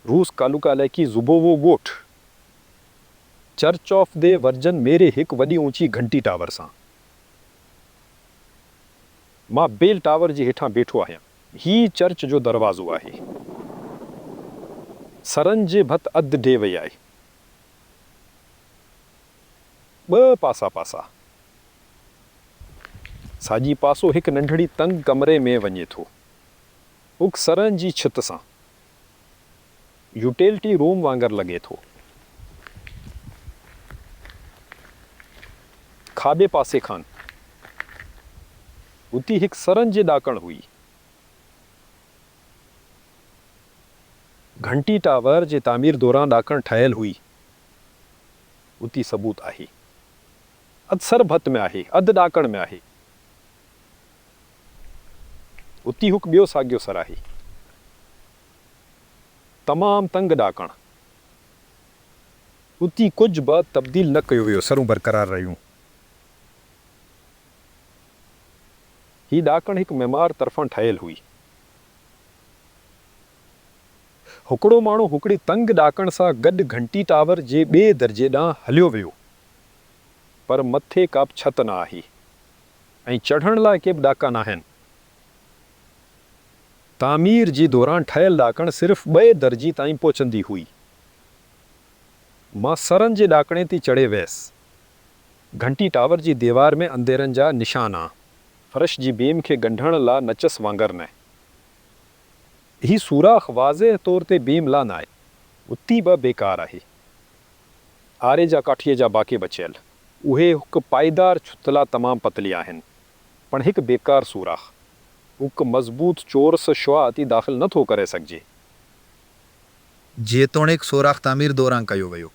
روس ڪالوڪا علائقي زوبووو ڳوٺ church of the virgin Mary هڪ وڏي اوچي گهنٽي ٽاور سان مان بيل ٽاور جي هيٺان بيٺو آهيان. هي چرچ جو دروازو آهي. سرن جي ڀت اڌ ڊهي وئي آهي. ٻه پاسا پاسا. ساڄي پاسو هڪ ننڍڙي تنگ ڪمري ۾ وڃي ٿو. هڪ سرهن جي ڇت سان يوٽيلٽي روم وانگر لڳي ٿو. کاٻي پاسي کان هتي هڪ سرهن جي ڏاڪڻ هئي. گهنٽي ٽاور جي تعمير دوران ڏاڪڻ ٺهيل هئي. اتي ثبوت آهي. اڌ سر ڀت ۾ آهي، اڌ ڏاڪڻ ۾ آهي. اتي ھڪ ٻيو ساڳيو سراھي، تمام تنگ ڏاڪڻ. اتي ڪجھ به تبديل نه ڪيو ويو، سرون برقرار رھيون. ھي ڏاڪڻ ھڪ معمار طرفان ٺھيل ھئي. ھڪڙو ماڻھو ھڪڙي تنگ ڏاڪڻ سان گڏ گھنٽي ٽاور جي ٻئي درجي ڏانھن ھليو ويو، پر مٿي ڪابه ڇت نه آھي. ۽ چڙهڻ لاء ڪي به ڏاڪا ناهن. تعمير جي دوران ٺهيل ڏاڪڻ صرف ٻئي درجي تائين پهچندي هئي. مان سرن جي ڏاڪڻي تي چڙهي ويس. گهنٽي ٽاور جي ديوار ۾ انديرن جا نشان آ. فرش جي بيم کي ڳنڍڻ لا نچس وانگر نه. هي سوراخ واضح طور تي بيم لا ناهي. اتي به بيڪار آهي. آري جا ڪاٺيء جا باقي بچيل. اهي هڪ پائيدار ڇتلا تمام پتلي آهن، پڻ هڪ بيڪار سوراخ. هڪ مضبوط چورس شعاع تي داخل نه ٿو ڪري سگهجي. جيتوڻيڪ سوراخ تعمير دوران ڪيو ويو.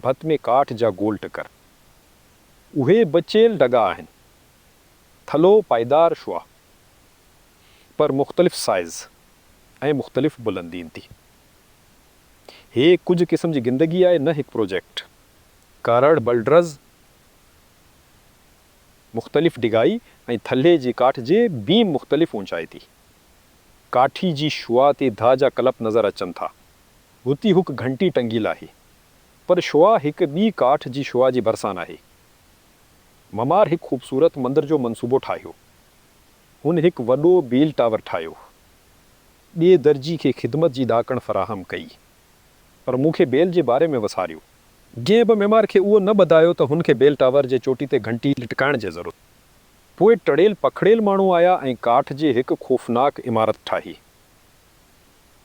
ڀت ۾ ڪاٺ جا گول ٽڪر. اهي بچيل ڍڳا آهن. ٿلهو پائيدار شعاع. پر مختلف سائيز ۽ مختلف بلندين تي. هي ڪجهه قسم جي گندگي آهي نه هڪ پروجيڪٽ. ڪارڙ بلڊرز مختلف ڊگهائي ۽ ٿلهي جي ڪاٺ جي بيم مختلف اوچائي تي ڪاٺي جي شعاع تي ڌا جا ڪلپ نظر اچن ٿا. هتي هڪ گهنٽي ٽنگيل آهي پر شعاع هڪ ٻي ڪاٺ جي شعاع جي ڀرسان آهي. ممار هڪ خوبصورت مندر جو منصوبو ٺاهيو. هن هڪ وڏو بيل ٽاور ٺاهيو. ٻئي درجي کي خدمت جي ڏاڪڻ فراهم ڪئي، پر مون کي بيل جي باري ۾ وساريو. جنهن به معمار کي اهو نه ٻڌايو ته هن کي بيل ٽاور جي چوٽي تي گهنٽي لٽڪائڻ جي ضرورت پوء ٽڙيل پکڙيل ماڻهو آيا ۽ ڪاٺ جي هڪ خوفناڪ عمارت ٺاهي.